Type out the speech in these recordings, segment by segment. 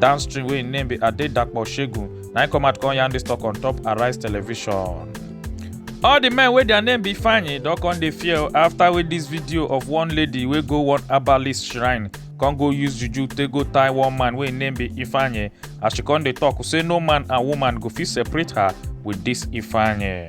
downstream wey im name be adedapo shegun na im come out come yarn dis talk on top arise television all di men wey dia name be fanyi don come dey fear afta wey dis video of one lady wey go one herbalist shrine come go use juju take go tie one man wey im name be ifeanyi as she come dey tok say no man and woman go fit separate her wit dis ifeanyi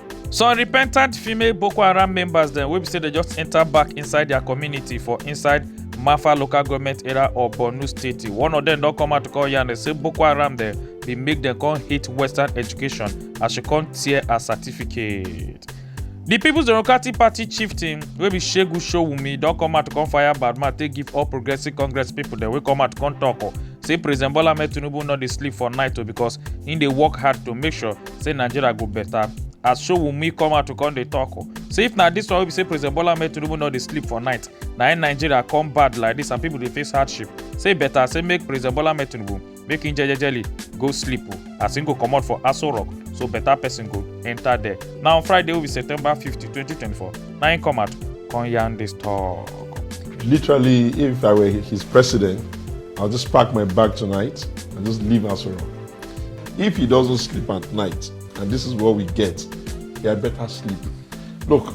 some repentant female boko haram members dem wey be say dem just enter back inside their community for inside mafa local government area of borno state one of dem don come out to call yarn say boko haram dem bin make dem come hate western education as she come tear her certificate. di peoples democratic party chieftain wey be shegun showunmi don come out to come fire badman take give all progressive congress pipo dem wey come out come tok say president bola ahmed tinubu no dey sleep for night o becos im dey work hard to make sure say nigeria go better as showunmi come out to come dey talk o say if na dis one wey be say president bola ahmed tinubu no dey sleep for night na im nigeria come bad like dis and pipo dey face hardship say better say make president bola ahmed tinubu make im jejejely go sleep o as im go comot for aso rock so better person go enter there na on friday wey be september fifty twenty twenty four na im come out come yarn dis talk. Literally, if I were his president, I'll just pack my bag tonight and just leave Asoro. If he doesn't sleep at night, and this is what we get, he had better sleep. Look.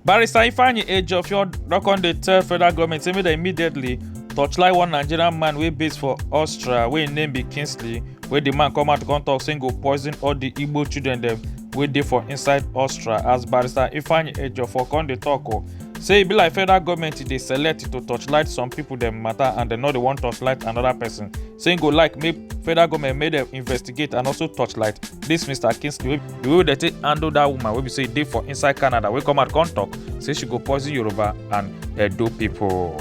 Barrister Ifeanyi Ejiofor don come dey tell federal government say make dem immediately torchlight one Nigerian man wey base for Austria wey im name be Kingsley wey di man come out come talk say im go poison all di Igbo children dem wey dey for inside Austria as Barrister Ifeanyi Ejiofor come dey talk o. say e be like federal goment e dey select to torchlight some pipo dem mata and dem no dey wan torchlight anoda pesin say im go like make federal goment make dem investigate and also torchlight dis mr kingsley di way dem take handle dat woman wey be say e dey for inside canada wey come out come tok say she go poison yoruba and edo pipo.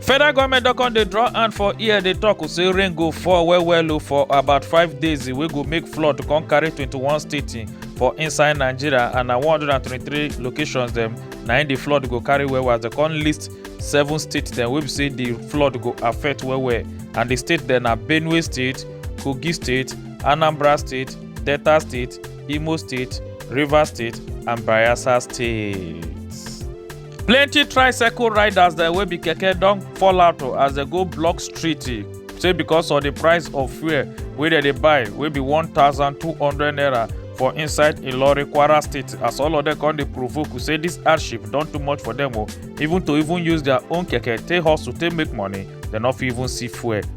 federal goment don come dey draw hand for ear dey tok say rain go fall well well o for about five days wey go make flood come carry 21 states for inside nigeria and na 123 locations dem na im di flood go carry well well as dem come list seven states dem wey be say di flood go affect well well and di state dem na benue state kogi state anambra state delta state imo state rivers state and bayelsa state. plenty tricycle riders dem wey be keke don fall out o as dem go block street eh, say because of the price of fuel wey dem dey buy wey be 1200 naira for inside ilorin kwara state as all of dem come dey provoke say this hardship don too much for dem o even to even use their own keke take hustle take make money dem no fit even see fuel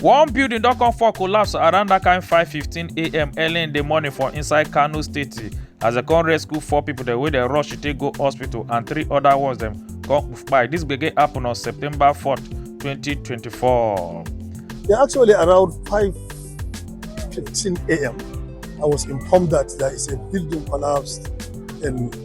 One building don come fall collapse around that kind 5:15am early in the morning for inside Kano State as dem come rescue four people dem wey dem rush to take go hospital and three other ones dem come kpai. This gbege happen on September 4th, 2024. Yeah, actually around 5:15 a.m. I was informed that there is a building collapsed in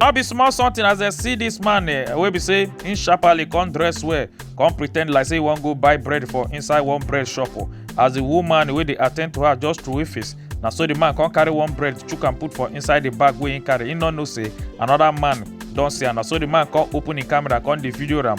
no be small something as dem see this man eh, wey be say him sharply come dress well come pretend like say he wan go buy bread for inside one bread shop o as the woman wey dey attend to her just throway face na so the man come carry one bread chook am put for inside the bag wey him carry him no know say another man don see am na so the man come open him camera come dey video am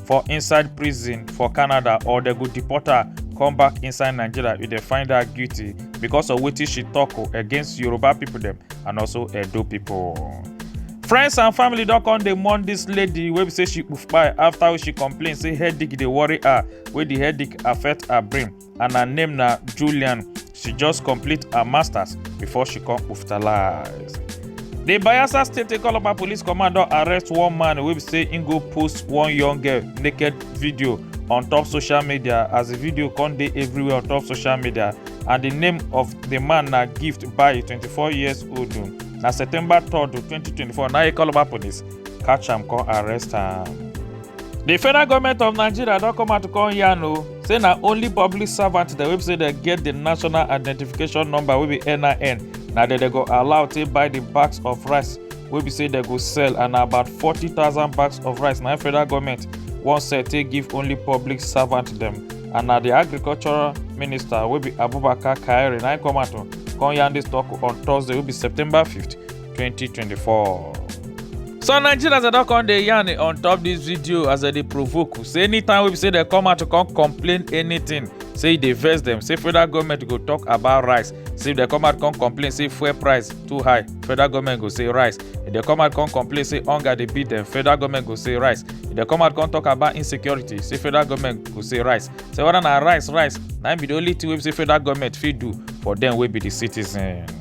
for inside prison for canada or dem go deport her come back inside nigeria if dem find her guilty because of wetin she tok oh, against yoruba pipo dem and also edo pipo friends and family don come dey mourn dis lady wey be say she kpai afta she complain say headache dey worry her wey di headache affect her brain and her name na Julian. She just complete her masters before she come oftalize. The Bayelsa State Ekologba Police Command don arrest one man wey be say im go post one young girl naked video on top social media as the video come dey everywhere on top social media and the name of the man na Gift Bayi, 24 years old. Na September 3rd, 2024 na Ekologba Police catch am come arrest am. di federal goment of nigeria don come out to come yarn o say na only public servant dem wey say dem get di national identification number wey be nin na dem dem go allow take buy di bags of rice wey be say dem go sell and na about forty thousand bags of rice na federal goment wan sell take give only public servant dem and na di agricultural minister wey be abubakar kyari na im come out come yarn dis tok on thursday wey be september 5th 2024. So Nigerians are not come dey yarn on top this video as they provoke you. Say anytime we say they come out to come complain anything, say they verse them. Say federal government go talk about rice. Say if they come out come complain, say fuel price too high, federal government go say rice. If they come out come complain, say hunger they beat them, federal government go say rice. If they come out come talk about insecurity, say federal government go say rice. Say whether na rice, rice, now be the only thing we say federal government feed do for them will be the citizen.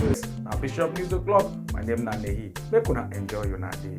This na Bishop News O'Clock. My name na Nehi. Make una enjoy una day.